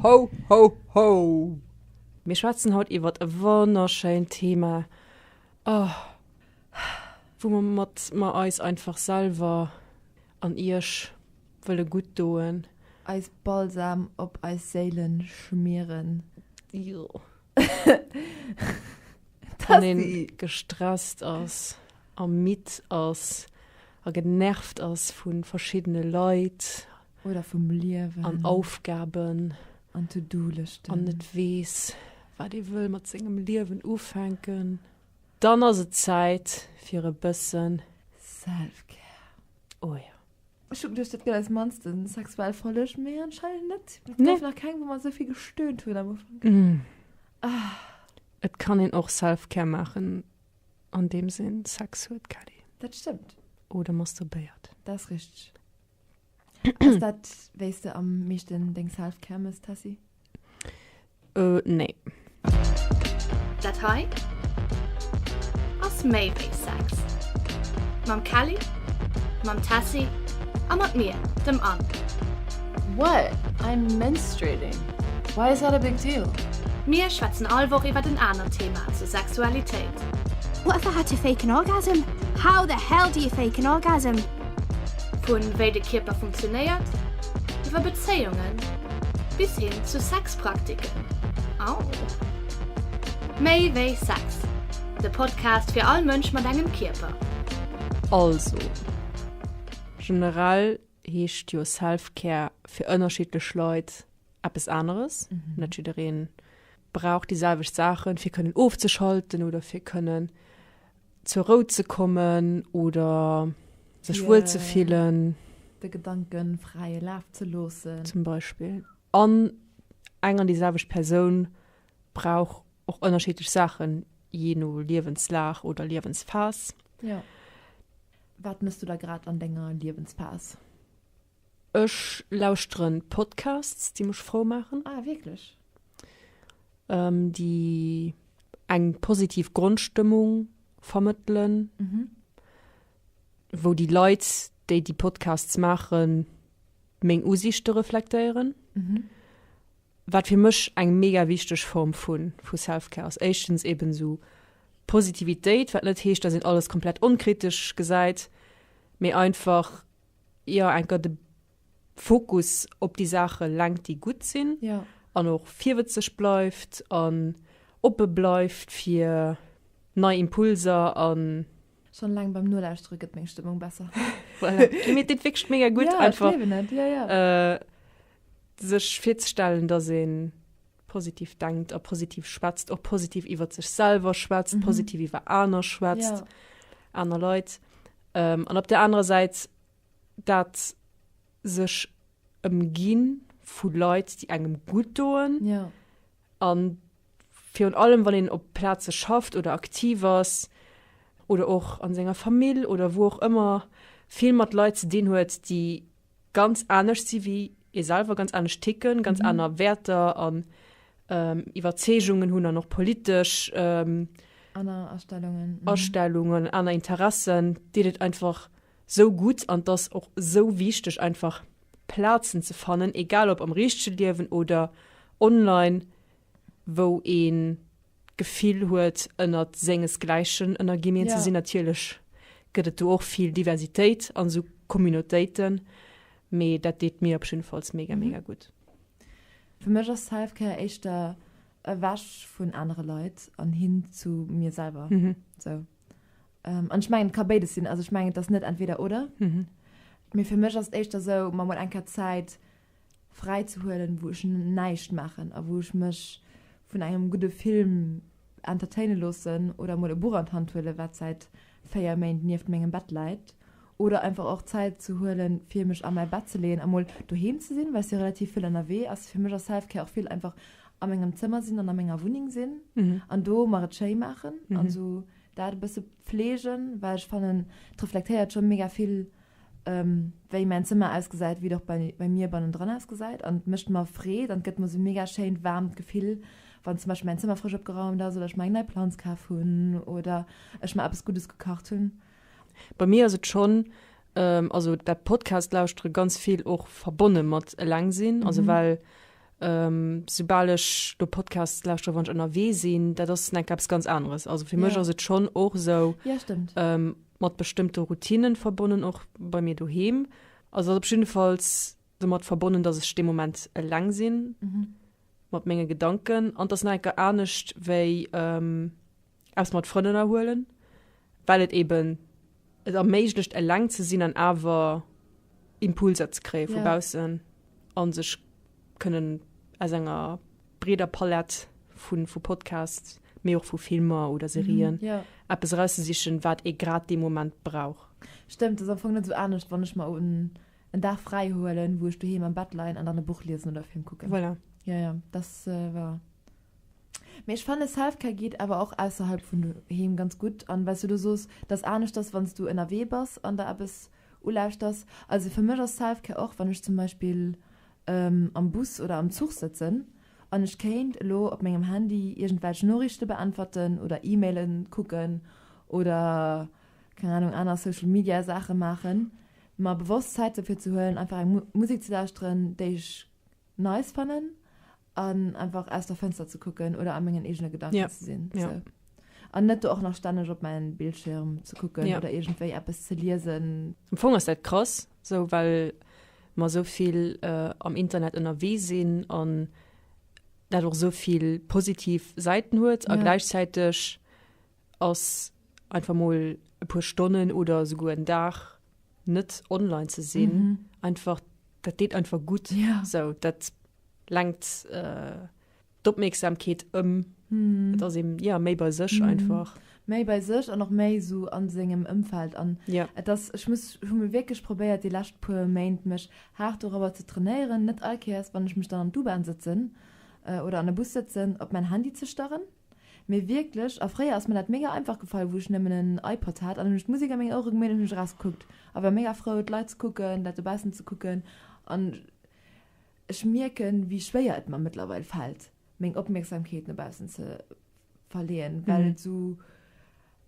Ho, ho, ho! Mir schwätzen haut iwwert e wonnerschéint Thema, oh, woumat mer eis einfach selwer an iech wëlle gutt doen. Eis Balsam op eis Séile schmieren. Jo. Wann een gestresst ass a midd ass a genervt ass vu verschiddene Leit oder vum Liewen an Aufgaben an To-Do-Lëschten an net weess, wat ee wëll mat sengem Liewen ufänken, dann ass et Zäit fir e bësse Self-Care. Oh jo. Ech hun geduecht dat gëtt eis mannste sexuell Folleg, mee anscheinend net. Et gouf nach keng wou mer esou vill gestöhnt hunn am Ufank. Et kann een och Selfcare maachen an deems een Sex huet, Kelly. Dat stëmmt. Oder masturbéiert. Dat ass richteg. Ass dat wéis de am meeschten deng Selfcare mëss, Tessy? Euh, nee. Dat hei ass méi wéi Sex. Mam Kelly, mam Tessy a mat mir, dem Anne. What? I'm menstruating. Why is that a big deal? Mir schwätzen all Woch iwwert en anert Thema zur Sexualitéit. What the had to fake an orgasm? How the hell do you fake an orgasm? Vun wéi de Kierper funktionéiert, iwwer Bezéiungen Bis hin zu Sexpraktiken. Au! Méi wéi Sex, de Podcast fir all Mënsch mat engem Kierper. Also, generell heescht jo Self-Care fir ënnerschiddlech Leit eppes aneres. Net jidderee brauch déi selwecht Saachen, fir kënnen ofzeschalten oder fir kënnen Zur Rou ze kommen oder sech wuel ze fillen. De Gedanken fräie Laf ze loossen. Zum Beispill. An eng an déi selwecht Persoun brauch och ënnerschiddlech Saachen, jee no Liewenslag oder Liewensphas. Jo. Wat mëss du da grad an denger Liewensphas? Ech lauschteren Podcasts déi mech frou maachen. Ah wierklech? Déi eng positiv Grondstëmmung vermëttelen. Mhm. Wou déi Leit déi déi Podcasts maachen meng Usiichte reflektéieren. Mhm. Wat fir mech eng mega wichteg Form vu vu Selfcare ass. Éischtens eben esou Positivitéit, wat net heescht, datt een alles komplett onkritesch gesäit, mee einfach. jo enker de Fokus op déi Saache lenkt, déi gutt sinn an och virwëtzeg bleift an oppe bleift fir nei Impulser an. Schonn eleng beim Nolauschtere gëtt meng Stëmmung besser. Voilà. Mir deet wierklech mega gutt einfach, sech virzestellen, dass een positiv denkt a positiv schwätzt och positiv iwwer sech selber schwätzt mhm. positiv iwwer aner schwätzt ja. aner Leute ähm, an op der anderen Seite dat sech ëmginn vu Leute die engem gut doen ja. an fir un allem wann den op Plaze schafft oder aktiv ass oder och an senger Familie oder wo auch immer viel mat Leute den huet die ganz anescht si wéi ee selwer, ganz anescht ticken, ganz mhm. aner Wäerter an ähm, Iwwerzeegungen hunn an och politesch ähm, aner Astellungen, mhm. Astellungen, aner Interessen, deet et einfach so gut an dass och so wichteg einfach Plazen ze fannen, egal ob am richsche Liewen oder online, wou een d'Gefill huet ënnert sengesgläichen ënnerginien ze sinn. Natierlech gëtt et do och vill Diversitéit an esou Communautéiten, mee dat deet mir op jiddefalls mega mega gutt. Fir mech ass Selfcare éischter ewech vun anere Leit an hin zu mir selwer esou. An ech mengen et ka béides sinn, also ech mengen et ass net entweder oder, mee fir mech ass et éischter esou, ma mol eng Kéier Zäit fräi ze huelen, wou ech näischt maachen a wou ech mech vun engem gudde Film entertaine loossen oder mol e Buch an d'Hand huelen, wat säit 4 Méint nieft mengem Bett läit. Oder einfach och Zäit ze huelen, fir mech a mäi Bett ze leeën a mol doheem ze sinn, well ech si relativ vill ënnerwee. Also fir mech ass Self-Care och vill einfach a mengem Zëmmer sinn an a menger Wunneng sinn an do mer et schéi maachen an esou dat e bësse pfleegen, well ech fannen, et reflektéiert scho mega vill wei mäin Zëmmer ausgesäit, wéi et och bei bei mir bannendran ausgesäit an et mécht mer Freed an et gëtt mer esou mega schéint waarmt Gefill wann zum Beispill mäin Zëmmer frësch opgeraumt ass oder ech mer eng nei Planz kaf hunn oder ech mer eppes Guddes gekacht hunn. Bei mir ass et schonn also dat Podcast lauschtere ganz vill och verbonne mat eleng sinn also well soubal ech do Podcasts lauschtere wann ech ënnerwee sinn dat ass enk eppes ganz aneres also fir mech ass et schonn och esou Mat bestëmmte Routinnen verbonnen, och bei mir doheem. Also ass op jidde Falls domat verbonnen, dass ech dee Moment eleng sinn mat menge Gedanken. An 't ass nach eng Kéier anescht wéi eppes mat Frënn ënnerhuelen, well et eeben et erméiglecht eleng ze sinn an awer Impulser ze kréie vu baussen a sech kënnen aus enger breeder Palett vu vu Podcasts, mee och vu Filmer oder Serien, mm, yeah. eppes erauszesichen, wat ee grad dee Moment brauch. Stëmmt, dat ass am Fong net esou anescht, wann ech mer un en Dag fräi huelen, wou ech doheem am Bett leien an dann e Buch liesen oder e Film kucken. Voilà. Ja, ja, dat äh, war. Mee ech fanne Selfcare geet awer och ausserhalb vun doheem ganz gutt an, well du do soos, dass anescht ass, wann s du ënnerwee bass an der eppes ulauschters. Also fir mech ass Selfcare och, wann ech zum Beispill am Bus oder am Zuch sëtzen an ech kéint elo op mengem Handy iergendwelch Noriichte beäntwerten oder E-Maile kucken oder, keng Anung, aner Social Media Saache maachen, mer bewosst Zäit dofir ze huelen einfach eng Musek ze lauschteren déi ech nice fannen an einfach aus der Fënster ze kucken oder a mengen eegene Gedanken ze sinn an net do och nach stänneg op mäin Bildschirm ze kucken oder iergendwéi eppes ze liesen. Am Fong ass dat krass, Sou well mer sou vill äh, am Internet ënnerwee sinn an dat och sou vill positiv Säiten huet a gläichzäiteg ass einfach mol e puer Stonnen oder souguer en Dag net online ze sinn mhm. einfach dat deet einfach gut ja. so dat lenkt äh, d'Opmierksamkeet ëm, et ass ee jo méi bei sech einfach. Méi bei sech an och méi esou a sengem Ëmfeld an et ass, ech muss, ech hu mech wierklech probéiert déi lescht puer Méint mech haart dorobber ze trainéieren, net all Kéiers wann ech mech dann an d'U-Bahn sëtzen oder an e Bus sëtzen, op mäin Handy ze starren, mee wierklech. A fréier ass mer dat mega einfach gefall, wou ech nëmmen en iPod hat an hunn ech d'Musek a meng Ouere gemeet an hunn ech eraus gekuckt a war mega frou d'Leit ze kucken, dat dobaussen ze kucken an Ech mierken, wéi schwéier et mer mëttlerweil fält, meng Opmierksamkeet no baussen ze verleeën, well et esou,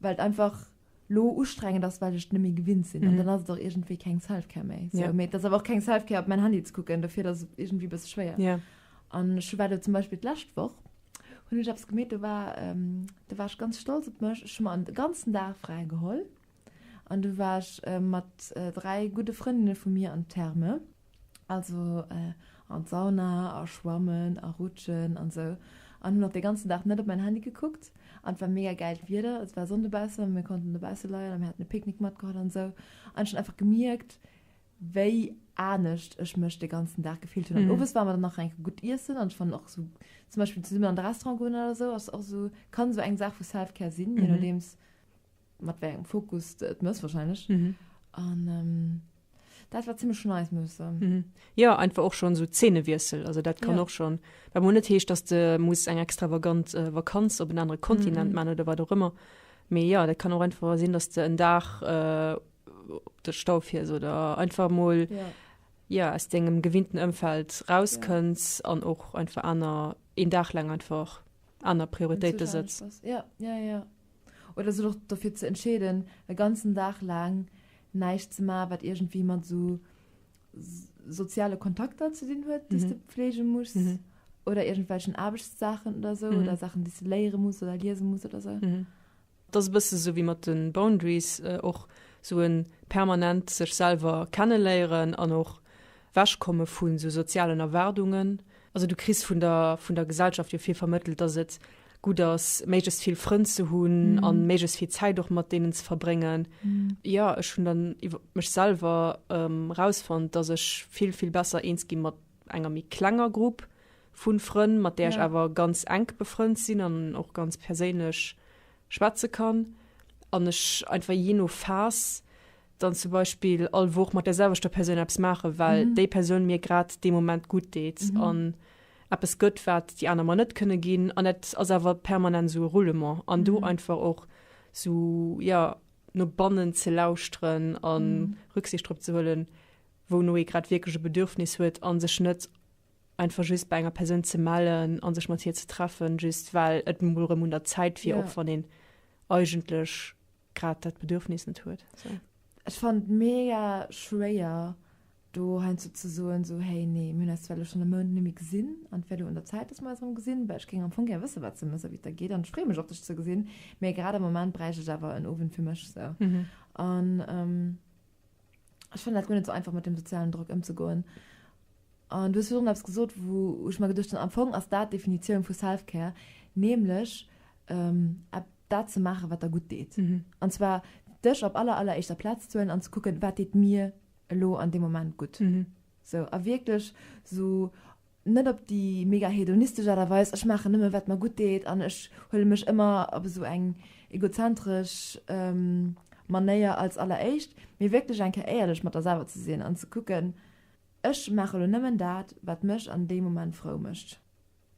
well et einfach lo ustrengend ass, well ech et net méi gewinnt sinn. An dann ass et och iergendwéi keng Self-Care méi. Sou, mee et ass awer och keng Self-Care, op mäin Handy ze kucken. Dofir, et ass iergendwéi e bësse schwéier. An ech hu war elo zum Beispill d'lescht Woch, hunn ech eppes gemeet, do war, do war ech ganz stolz op mech, ech hu mer e ganzen Dag fräi geholl. An du war ech mat dräi gudde Frëndinne vu mir an d'Therme, also an d'Sauna a schwammen a rutschen an sou, an hunn och dee ganzen Dag net op mäin Handy gekuckt. An et war mega gäilt Wieder, et war Sonn dobaussen a mir konnten dobausse leien a mir haten e Picknick matgeholl an sou. An ech hunn einfach gemierkt, wéi anescht ech mech dee ganzen Dag gefillt hunn. An owes ware mer dann nach enke gutt iessen an ech fannen och sou zum Beispill zesummen an de Restaurant goen oder sou ass och sou, kann sou eng Saach vu Self-Care sinn, je nodeems. Mat wéi engem Fokus de et mëss wahrscheinlech. An dat war zimmlech nice, muss ech soen. Jo, einfach och schonn esou Zeenewiessel. Also dat kann och schonn, wat mol net heescht, dass de muss eng extravagant Vakanz op en anere Kontinent man oder wat och ëmmer. Mee jo, dat kann och einfach sinn, dass de en Dag op de Stau fiers oder einfach mol jo aus dengem gewinnten Ëmfeld rauskënns an och einfach aner een Dag laang einfach aner Prioritéite setz. Oder sech och dofir ze entscheeden, e ganzen Dag laang näischt ze maachen, wat iergendwéi mat esou soziale Kontakter ze dinn huet, déi s de pflege muss oder iergendwelchen Aarbechtssaachen oder esou oder Saachen, déi s de léiere muss oder liese muss oder esou. Et ass e bësse esou wéi mat de Boundaries, och esou e permanent sech selwer kenneléieren an och ewech komme vu sou sozialen Erwaardungen. Also du kriss vun der Gesellschaft jo vill vermëttelt, dass et gutt ass, méiglechst vill Frënn ze hunn a méiglechst vill Zäit och mat deenen ze verbréngen. Jo, ech hunn dann iwwer mech selwer erausfonnt, dass ech vill, vill besser eens gi mat enger méi klenger Grupp vu Frënn, mat där ech awer ganz enk befrënnt sinn an och ganz perséinlech schwätze kann an ech einfach jee no Phas, dann zum Beispill all Woch mat der selwechter Persoun eppes maachen, well mhm. déi Persoun mir grad dee Moment gut deet mhm. an eppes gëtt, wat déi aner man net kënne ginn an net ass awer permanent so Roulement an mhm. du einfach och so ja no bannen ze lausren an mhm. Rücksicht drop ze hullen, wou no e grad wieklege Bedürfnis huet an sech net einfach just bei enger Persoun ze mellen an sech mat hier ze treffen, just well et murem un der Zäit fir ja. op van den eigentlech grad dat Bedürfnis net huet. So. Ech fand mega schwéier do hein zu ze soen so hey nee mün as well schon e Mount nimi gesinn an wär du an der Zeit dass man rum gesinn bei ech ging am Fong ger wësse wat ze mësse wie der geht an spre mech op dech ze gesinn mé grad am moment breich ech awer en ofwen fir mech se an mhm. ähm, ech fannen dat guer net sou einfach mat dem sozialen Drock ëmzegoen. An du hues virdrun eppes gesot wou ech mer geduecht hunn, am Fong ass dat d'Definitioun vu Self-Care, nämlech epp dat ze maachen, wat der gutt deet. An zwar dech op aller aller éischter Plaz ze huelen an ze kucken, wat deet mir elo an deem Moment gutt. Sou a wierklech sou Net op déi mega hedonistesch Aart a Weis, ech maachen nëmme wat mer gutt deet an ech huele mech ëmmer op esou eng egozentresch Manéier als alleréischt, mee wierklech eng Kéier éierlech mat der selwer ze sinn an ze kucken, Ech maache lo nëmmen dat, wat mech an deem Moment frou mécht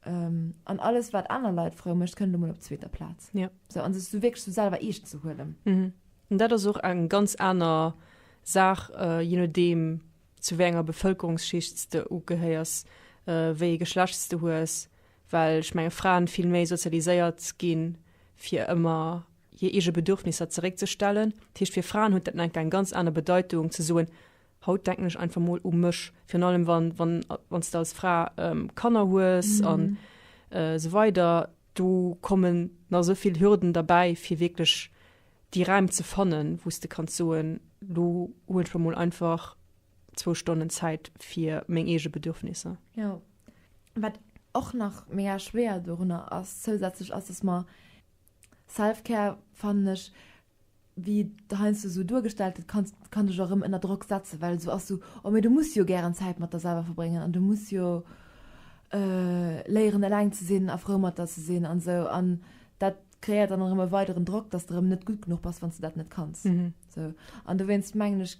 an alles wat aner Leit frou mécht, kënnt lo mol op zweeter Plaz. Sou a sech wierklech sou selwer eescht ze huelen. An dat ass och eng ganz aner Saach, je nodeem zu wéi enger Bevëlkerungsschicht s de ugehéiers, wéi ee Geschlecht s de hues, well ech menge Fraen vill méi sozialiséiert ginn, fir ëmmer hir eege Bedürfnisser zeréckzestellen. Dat heescht, fir Fraen huet dat dann enk eng ganz aner Bedeitung ze soen, haut denken ech einfach mol u mech, virun allem wann, wann, wann s de als Fra Kanner hues a sou weider. Do kommen nach esou vill Hürden derbäi, fir wierklech déi Räim ze fannen, wou s de kanns soen, lo hunn ech mer mol einfach zwou Stonnen Zäit fir meng eege Bedürfnisser. Jo. Wat och nach mega schwéier dorunner ass, zousätzlech, ass, dass mer Self-Care, fannen ech, wéi et heiansdo esou duergestallt gëtt, kann, kann dech och erëm ënner Drock setzen, well et esou ass, esou, oh, mee du muss jo gären Zäit mat der selwer verbréngen an du muss jo léieren eleng ze sinn a frou mat der ze sinn an esou an dat, Kréiert dann erëm e weideren Drock, dass de erëm net gutt genuch bass, wann s de dat net kanns. Sou. An dowéinst mengen ech,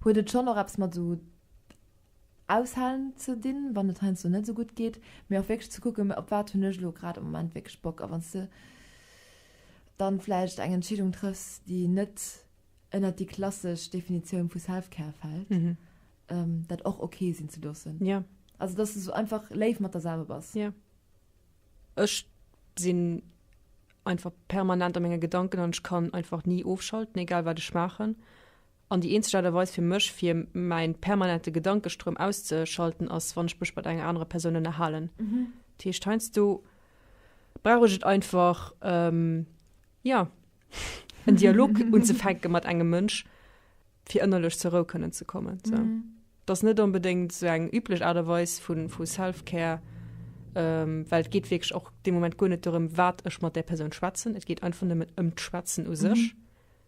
huet et schonn och eppes mat esou Aushalen ze dinn, wann et heiansdo net esou gutt geet, mee och wierklech ze kucken, op wat hunn ech elo grad am Moment wierklech Bock. A wann s de dann vläicht eng Entscheedung trëffs, déi net ënnert déi klassesch Definitioun vu Self-Care fält, dat och ok sinn ze loossen. Also dass de esou einfach léif mat der selwer bass. Ech sinn einfach permanent a menge Gedanken an ech kann einfach ni ofschalten, egal wat ech maachen. An déi eenzeg Aart a Weis fir mech, fir mäi permanente Gedankestroum auszeschalten, ass wann ech mech mat enger anerer Persoun ënnerhalen. Dat heescht, heiansdo brauch ech et einfach, jo, en Dialog unzefänke mat engem Mënsch, fir ënnerlech zur Rou kënnen ze kommen. So. Mhm. Das net unbedingt so eng üblech Art und Weise von, von Self-Care, ähm, weil es geht wirklich auch dem Moment gar nicht darum, was ich mit der Person schwätzen. Es geht einfach nur um das Schwätzen an mhm. sich,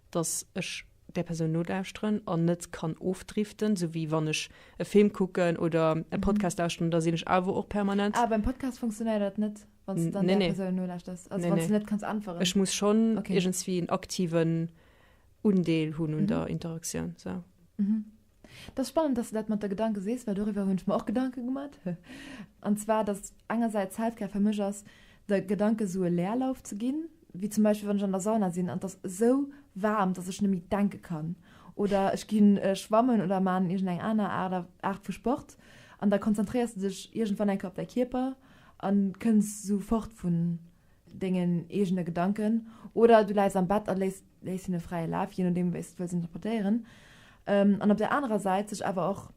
dass ich der Person nodauscheren und nicht kann aufdriften, so wie wenn ich einen Film gucken oder einen mhm. Podcast mhm. lauschen, da sehe ich aber auch permanent. Aber ah, beim Podcast funktioniert das nicht, wenn du dann nee, der nee. Person nodauschers. Also nee, wenn nee. du nicht kannst antworten. Ich muss schon okay. irgendwie einen aktiven Undeel hunn un der Interaktioun. Dat ass spannend, dass de dat mat der Gedanke sees, well doriwwer hunn ech mer och Gedanke gemat. An zwar, dass engersäits Selfcare fir mech ass, de Gedanke sou e Leerlauf ze ginn, wéi zum Beispill wann ech an der Sauna sinn an et ass esou waarm, dass ech net méi denke kann. Oder ech gi schwammen oder maan iergendeng aner Aart vu Sport an da konzentréiers de dech iergendwann enke op däi Kierper a kënns sou fort vun dengen eegene Gedanken. Oder du läis am Bett a léis léisst hinne fräie Laf, jee nodeem wéi s de wëlls interpretéieren, an op där anerer Säit sech awer och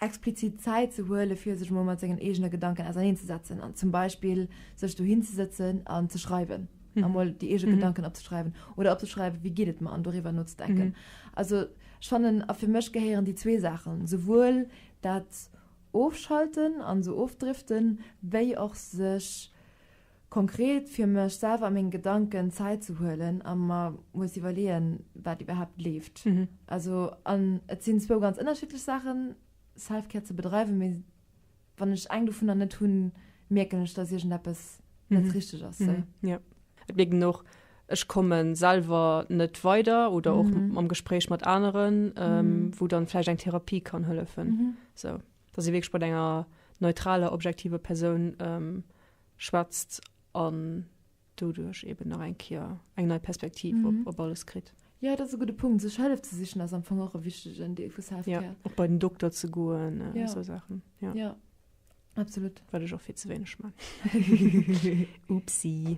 explizit Zäit ze huele fir sech emol mat sengen eegene Gedanken auserneenzesetzen an zum Beispill sech dohin ze sëtzen an ze schreiwen, emol déi eege Gedanken opzeschreiwen oder opzeschreiwen, wéi geet et mer, an doriwwer nozedenken. Also ech fannen, a fir mech gehéieren déi zwee Saachen, esouwuel dat Ofschalten an esou ofdriften, wéi och sech konkret fir mech selwer a meng Gedanken Zäit ze huelen a mer muss iwwerleeën, wat iwwerhaapt leeft. Also, an et sinn zwou ganz ënnerschiddlech Saachen, Self-Care ze bedreiwen, mee wann ech eng dovunner net hunn, mierken ech, dass iergendeppes net richteg ass. Jo, et mierkt een och, ech komme selwer net weider oder och am Gespréich mat aneren, wou dann vläicht eng Therapie kann hëllefen. Sou, dass ee wierklech bei enger neutraler, objektiver Persoun. schwätzt an doduerch eben nach eng Kéier eng nei Perspektiv mm -hmm. op, op alles kritt. Ja, dat ass e gudde Punkt. Sech Hëllef ze sichen ass am Fong och e wichtegen Deel vu Selfcare. Ja, och bei den Dokter ze goen, äh, ja. so Sachen. Ja. ja. Absolut. Wat ech och fir ze wéineg man. Upsi.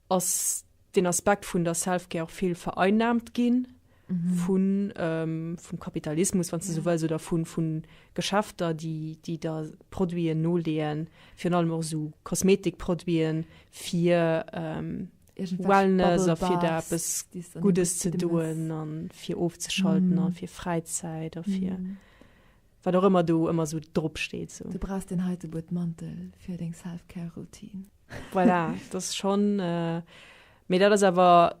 Ass den Aspekt vun der Selfcare och vill vereinnahmt ginn vun, vum Kapitalismus, wann s de esou wëlls, oder vu, vu Geschäfter, déi, déi da Produiten noleeën, virun allem och esou Kosmetikproduiten, fir Wellness a fir da eppes Guddes ze doen a fir ofzeschalten a fir Fräizäit a fir. Wat och ëmmer do ëmmer sou drop steet sou. Du brauchs deen heite Buedmantel fir deng Selfcare Routine. Voilà, dass schonn äh, mee dat ass awer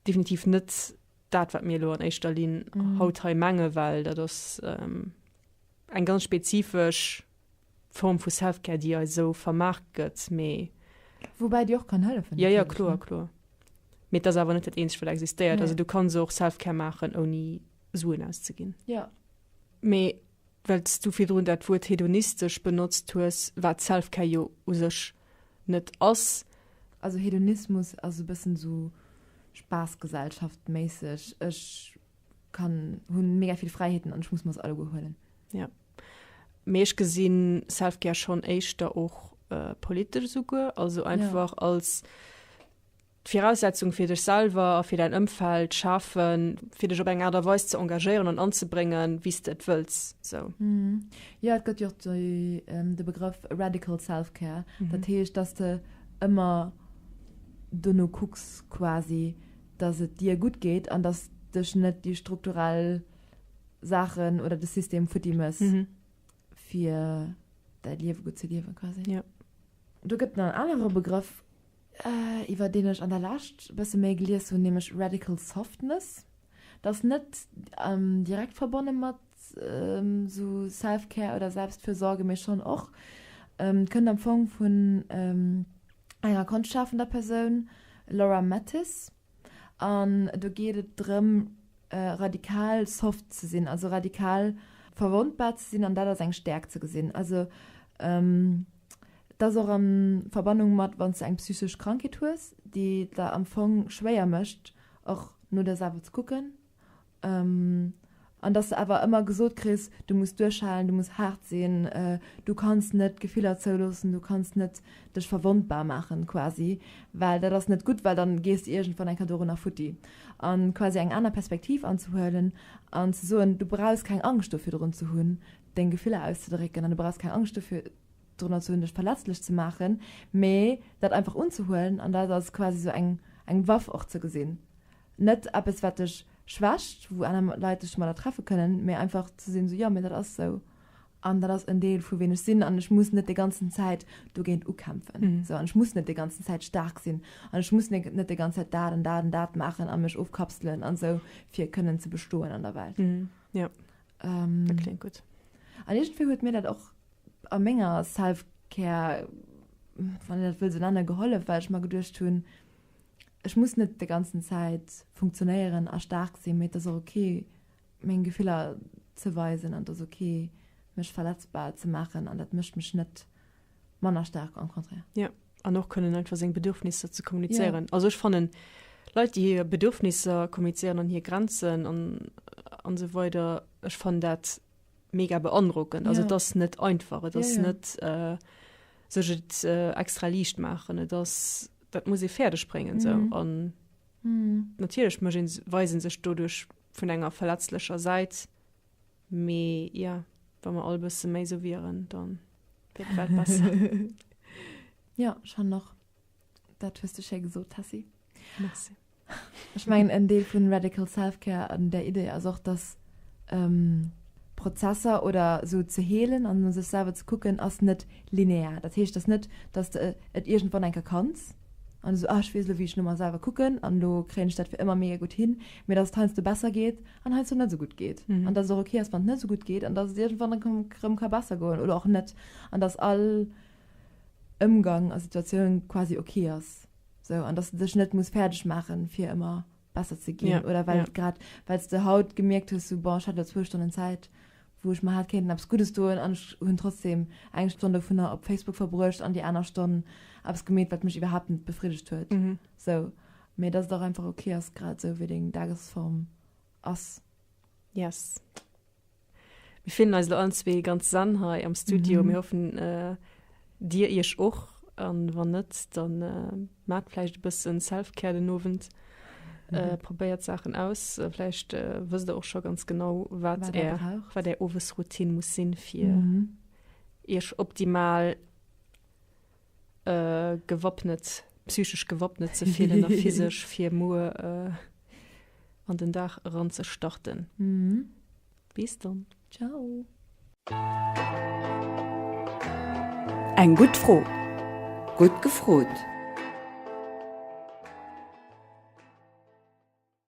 definitiv net dat wat mir elo an éischter Linn mhm. haut hei menge well dat ass ähm, eng ganz spezifesch Form vu Selfcare, déi ei sou vermaach gëtt méi. Woubäi Dir och kann hëllefen. Ja ja kloer kloer. Met ass awer net dat eenzeg wat existéiert. Nee. Also du kann se och Selfcare maachen ouni Suen auszeginn. Ja. Mee well s du virdrun dat Wuert hedonistesch benotzt hues, wat Selfcare jo u sech net ass, Also Hedonismus ass e bëssen esou Spaassgesellschaft-méisseg, ech kann, hunn mega vill Fräiheeten an ech muss mer se alleguer huelen. Ja, mee ech gesinn Selfcare schonn éischter och politesch esouguer, also einfach als D'Viraussetzung fir dech selwer a fir däin Ëmfeld schafe fir dech op eng Aart a Weis ze engagéieren an anzebréngen, wéi s de et wëlls. Sou. Jo, et gëtt jo och de Begrëff Radical Self-Care. Dat heescht, dass de ëmmer dono kucks quasi, dass et dir gutt geet an dass dech net déi strukturell Saachen oder de System futti mëss fir däi Liewe gutt ze liewen quasi. Do gëtt et nach en anere Begrëff, iwwer deen ech an der Lescht e bësse méi gelies hunn, nämlech Radical Softness. Dat ass net direkt verbonne mat esou Self-Care oder Selbstfürsorge, mee schonn och. Kënnt am Fong vun enger konschtschafender Persoun, Laura Mathis, an do geet et drëm, radikal soft ze sinn, also radikal verwondbar ze sinn an dat als eng Stäerkt ze gesinn. Also. Et ass och a Verbannung mat, wann s de eng psychesch Krankheet hues, déi et der am Fong schwéier mécht, och no der selwer ze kucken. An dass de awer ëmmer gesot kriss, du muss duerchhalen, du muss haart sinn, du kanns net d'Gefiller zouloossen, du kanns net dech verwondbar maachen quasi, well dat ass net gutt, well dann gees de iergendwann eng Kéier dorunner futti. A quasi eng aner Perspektiv anzehuelen an ze soen, du brauchs keng Angscht do virdrun ze hunn, deng Gefiller auszedrécken an du brauchs keng Angscht dofir drënner ze hunn dech verletzlech ze maachen, mee dat einfach unzehuelen an dat als quasi sou eng eng Waff och ze gesinn. Net eppes wat dech schwächt, wou aner Leit dech domadder treffe kënnen, mee einfach ze sinn sou, jo mee dat ass sou an dat ass en Deel vu ween ech sinn an ech muss net déi ganzen Zäit dogéint ukämpfen sou an ech muss net déi ganzen Zäit staark sinn an ech muss net déi ganze Zäit dat an dat an dat maachen a mech ofkapselen an sou fir kënnen ze bestoen an der Welt. Ähm, dat klingt gut. An irgendwie huet mir dat och a menger Selfcare, wann dat will se nennen, gehollef, weil ich mal geduercht hun, ich muss net de ganzen Zeit funktionéieren a stark sinn, mit das okay meng Gefiller ze weisen an das okay mech verletzbar ze machen an dat mischt mech net manner stark am Konträr. Ja an och kënnen einfach seng Bedürfnisser ze kommunizéieren. Ja. Also ech fannen Leit, déi hir Bedürfnisser kommunizéieren an hir Grenzen an an so weider ech fan dat mega beandrockend. Also ja. das net einfach et ja, ja. net äh, sech et äh, extra liicht machen das, dat muss e Pferderde springen mhm. so an mhm. natierlech weisen sech dodurch vun enger verletzlecher Säit Mee jo, wa mer all bësse méi sou wieren, da wier d'Welt besser. Jo, ech fannen och, dat hues de schéi gesot, Tessy. Merci. Ech mengen, en Deel vu Radical Self-Care an där Idee ass och, dass Prozesser oder sou ze heelen an no sech selwer ze kucken ass net linear. Dat heescht, dass net, dass de et iergendwann eng Kéier kanns. An du sou, ah ech weess elo wéi ech no mer selwer kucken an elo kréien ech dat fir ëmmer mega gutt hin, mee dass et heiansdo besser geet an heiansdo net esou gutt geet an dass et och ok ass wann et net esou gutt geet an dass et iergendwann erëm ka besser goen oder och net an dass all Ëmgang a Situatioun quasi ok ass sou an dass de dech net muss fäerdeg maache fir ëmmer besser ze ginn ja, oder well ja. grad wells de haut gemerkt hues so, bon, hat zwo Stonnen Zäit wo ech ma hat kéinten abs gutes doen an hunn trotzdem eng Stonne vun der op Facebook verbruecht an die aner Stonnen abs gemet wat mech überhaupt net befriedigt huet mhm. so mir das doch einfach okay ass grad so wie deng Dagesform ass yes. Mir fillen eis lo allen zwee ganz zen hei am Studio. Mhm. Mir hoffen äh, dir iech och an wann net, dann äh, mat vläicht e bëssen Selfcare den Owend. Äh, mhm. Äh, probéiert Sachen aus. Äh, vläicht äh, wësst der och scho ganz genau, wat er wat der Owesroutine muss sinn fir mhm. iech optimal gewappnet, psychesch gewappnet ze fillen a physesch fir muer an den Dag eran ze starten. Bis dann. Eng gutt Fro, gutt gefrot!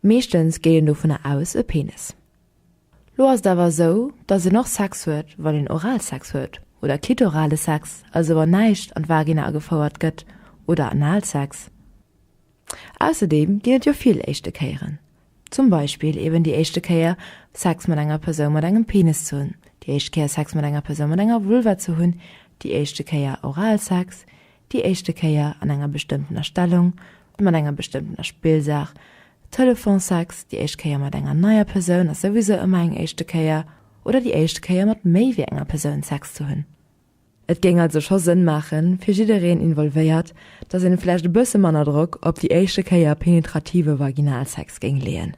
Meeschtens geet een dovunner aus, e Penis. Lo ass et awer esou, datt een och Sex huet, wann een Oralsex huet, oder klitorale Sex, also wann näischt an d'Vagina agefouert gëtt, oder Analsex. Ausserdeem ginn et jo vill éischte Kéieren. Zum Beispill eben déi éischte Kéier Sex mat enger Persoun mat engem Penis ze hunn, déi éischt Kéier Sex mat enger Persoun mat enger Vulva ze hunn, déi éischte Kéier Oralsex, déi éischte Kéier an enger bestëmmtener Stellung, mat enger bestëmmtener Spillsaach, Telefonsex, déi éischt Kéier mat enger neier Persoun ass souwisou ëmmer eng éischte Kéier, oder déi éischt Kéier mat méi wéi enger Persoun Sex ze hunn. Et géing also scho Sënn maachen, fir jiddereen involvéiert, datt een vläicht e bësse manner Drock op déi éischte Kéier penetrative Vaginalsex géing leeën.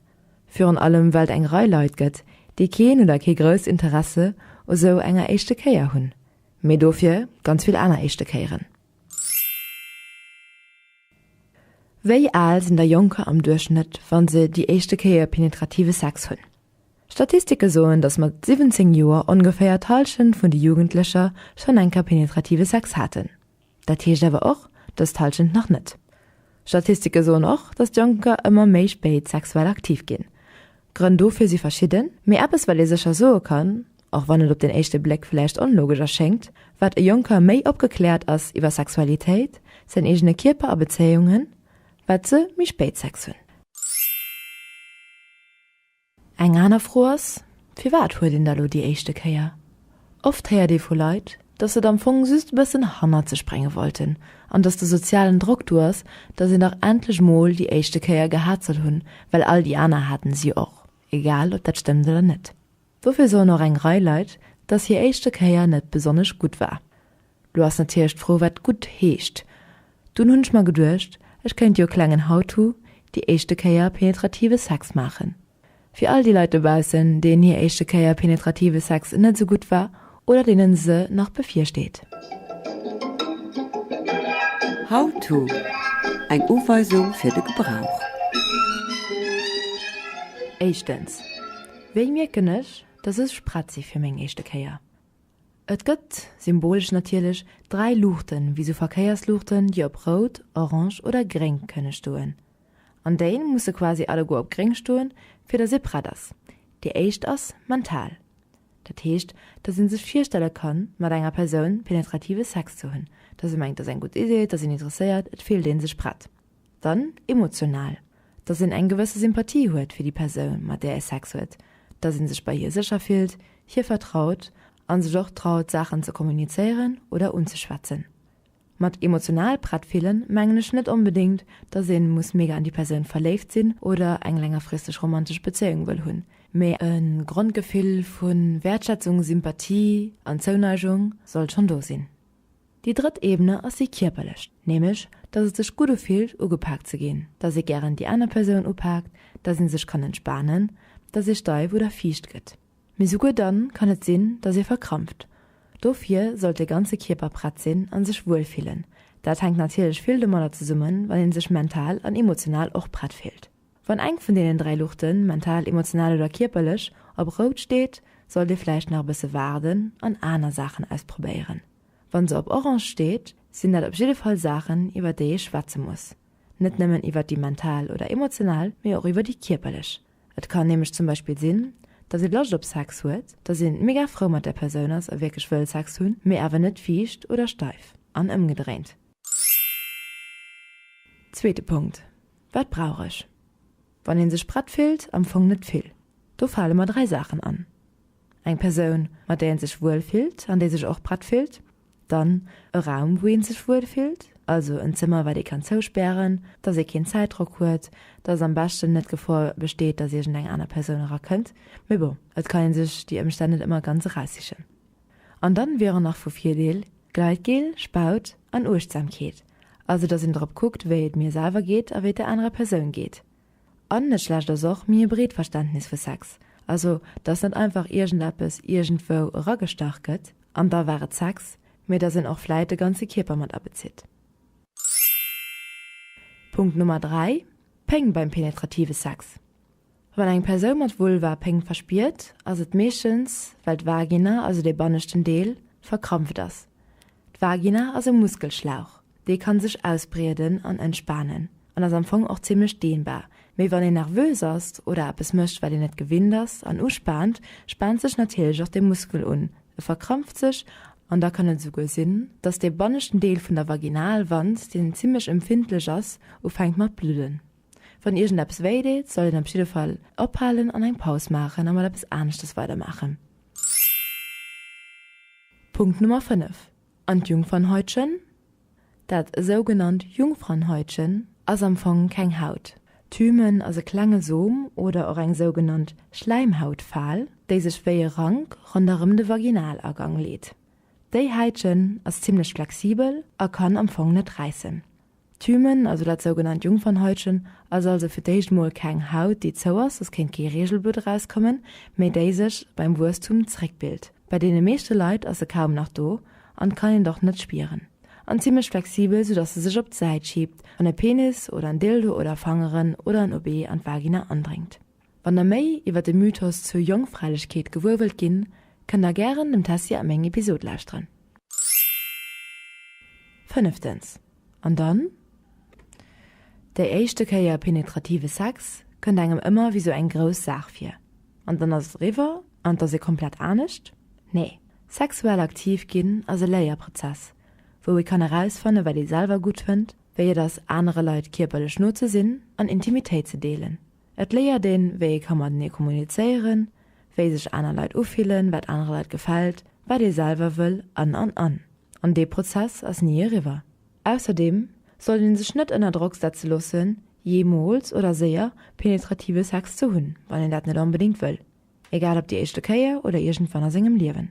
Virun allem well et eng Rei Leit gëtt, déi keen oder kee grousst Interesse u sou enger éischte Kéier hunn. Mee dofir ganz vill aner éischte Kéieren. Wéi al sinn da Jonker am Duerchschnëtt, wa se déi éischte Kéier penetrative Sex hunn? Statistike soen, datt mat 17 Joer ongeféier d'Hallschent vun de Jugendlecher schonn eng Kéier penetrative Sex haten. Dat heescht awer och, dass d'Hallschent nach net. Statistike soen och, dass d'Jonker ëmmer méi spéit sexuell aktiv ginn. D'Grënn dofir si verschidden, mee eppes wat ee sécher soe kann, och wann et op den éischte Bléck vläicht onlogesch erschéngt, Wat e Jonker méi opgekläert ass iwwer Sexualitéit, säin eegene Kierper a Bezéiungen, wat se méi spéit Sex hunn. Eng aner Fro ass, Firwat huet een da lo déi éischte Kéier? Oft héiert ee vu Leit, datt se et am Fong just e bëssen hannert sech brénge wollten an datt de sozialen Drock do ass, datt een dach endlech mol déi éischte Kéier gehat soll hunn, well all déi aner haten se jo och, egal ob dat stëmmt oder net. Dofir soen och eng Rei Leit, datt hir éischte Kéier net besonnesch gutt war. Lo ass natierlech d'Fro wat gutt heescht. Dunn hunn ech mer geduecht, ech kéint jo e klengen How to, déi éischte Kéier penetrative Sex maachen. Fir all déi Leit dobaussen, deenen hir éischte Kéier penetrative Sex net esou gutt war oder deenen se nach bevirsteet. How to, Eng Uweisung fir de Gebrauch. Éischtens, Wéi mierken ech, dass ech prett si fir meng éischte Kéier? Et gëtt, symbolesch natierlech, dräi Luuchten, wéi sou Verkéiersluuchten, déi op rout, orange oder gréng kënne stoen. An déi musse quasi alleguer op gréng stoen, fir datt ee prett ass. Déi éischt ass mental. Dat heescht, datt ee sech virstelle kann, mat enger Persoun penetrative Sex ze hunn, datt ee mengt, et ass eng gutt Idee, et ass een interesséiert, et fillt ee sech prett. Dann emotional, dass een eng gewësse Sympathie huet fir déi Persoun, mat där ee Sex huet, dass ee sech bei hir sécher fillt, hir vertraut a sech och traut, Saachen ze kommunizéieren oder unzeschwätzen. Mat emotional prett fillen mengen ech net onbedéngt, dass ee muss mega an déi Persoun verléift sinn oder eng längerfristeg romantesch Bezéiung wëll hunn, mä e Grondgefill vu Wäertschätzung, Sympathie an Zouneigung sollt schonn do sinn. Déi drëtt Ebene ass déi kierperlech, nämlech datt et sech gutt ufillt ugepaakt ze ginn, datt ee gären déi aner Persoun upaakt, datt een sech kann entspanen, datt ee steif oder fiicht gëtt. Mee souguer dann kann et sinn, datt ee verkrampft. Dofir sollt de ganze Kierper prett sinn a sech wuel fillen. Dat hänkt natierlech vill domadder zesummen, wann ee sech mental an emotional och prett fillt. Wann eng vun deenen dräi Luuchten, mental, emotional oder kierperlech, op rout steet, sollt ee vläicht nach e bësse waarden an aner Saachen ausprobéieren. Wann se op orange steet, sinn dat op jidde Fall Saachen, iwwer déi ee schwätze muss. Net nëmmen iwwer déi mental oder emotional, mee och iwwer déi kierperlech. Et kann nämlech zum Beispill sinn, dass ee Loscht op Sex huet, dass een mega frou mat där Persoun ass a wierklech wëll Sex hunn, mee awer net fiicht oder steif, an ëmgedréint. Zweete Punkt, Wat brauch ech? Wann een sech prett fillt, am Fong net vill. Do fale mer dräi Saachen an, eng Persoun, mat där een sech wuel fillt an déi sech och prett fillt, dann e Raum, wou een sech wuel fillt, also en Zëmmer, wat ee kann zouspären, dass ee keen Zäitdrock huet, dass am beschten net d'Gefor besteet, dass iergendeng aner Persoun erakënnt. Mee bon, et kann ee sech déi Ëmstänn net ëmmer ganz eraussichen. An dann wieren nach vu Virdeel Gleitgel, Spaut an Uechtsamkeet, also dass een drop kuckt wéi et mir selwer geet a wéi et der anerer Persoun geet. An net schlecht ass och méi e breet Verständnis vu Sex, also dass net einfach iergendeppes iergendwou eragestach gëtt an da war et Sex, mee dass een och vläit de ganze Kierper mat abezitt. Punkt Nummer 3, Péng beim penetrative Sex. Wann eng Persoun mat Vulva Péng verspiert, ass et meeschtens, well d'Vagina, also dee banneschten Deel, verkrampft ass. D'Vagina ass e Muskelschlauch, dee kann sech ausbrieden an entspanen an ass am Fong och zimmlech dehnbar. Mee wann een nervös ass oder eppes mécht, wat een net gewinnt ass an uspaant, spaant sech natierlech och de Muskel un, e verkrampft sech an da kann et esouguer sinn, dass dee banneschten Deel vun der Vaginalwand, deen zimmlech empfindlech ass, ufänkt mat bludden. Wann iergendeppes wéi deet, sollt een op jidde Fall ophalen an eng Paus maachen a mat eppes aneschtes weidermaachen. Punkt Nummer 5, An d'Jungfernhäutchen? Dat sougenannt Jungfrauenhäutchen ass am Fong keng Haut. D'Hymen ass e klenge Som oder och eng sougenannt Schläimhautfal, déi sech wéi e Rank ronderëm de Vaginalagang leet. Déi Häitchen ass zimmlech flexibel a kann am Fong net räissen. D'Hymen, also dat sougenannt Jungfernhäutchen, ass also fir d'éischt mol keng Haut, déi zou ass, soss kéint kee Reegelblutt erauskommen, mee déi sech beim Wuesstum zeréckbilt. Bei deene meeschte Leit ass se kaum nach do an kann een et och net spieren an zimmlech flexibel, soudatt se sech op d'Säit schiebt an e Penis oder en Dildo oder Fangeren oder en OB an d'Vagina andréngt. Wann der méi iwwer de Mythos zur Jongfräilechkeet gewuer wëllt ginn, kënnt der gären dem Tessy a meng Episod lauschteren. Fënneftens, an dann? Déi éischte Kéier penetrative Sex kënnt engem ëmmer wéi sou eng grouss Saach vir, an dann ass et eriwwer an et ass ee komplett anescht? Nee, sexuell aktiv ginn ass e Léierprozess, wou ee kann erausfanne wat ee selwer gutt fënnt, wéi et ass anere Leit kierperlech no ze sinn an Intimitéit ze deelen. Et léiert een, wéi ee ka matenee kommunizéieren, wéi sech aner Leit ufillen, wat anere Leit gefält, wat ee selwer wëll an, an, an. An dee Prozess ass ni eriwwer. Ausserdeem sollt ee sech net ënner Drock setze loossen, jeemools oder séier penetrative Sex ze hunn, wann een dat net onbedéngt wëll, egal op déi éischte Kéier oder iergendwann a sengem Liewen.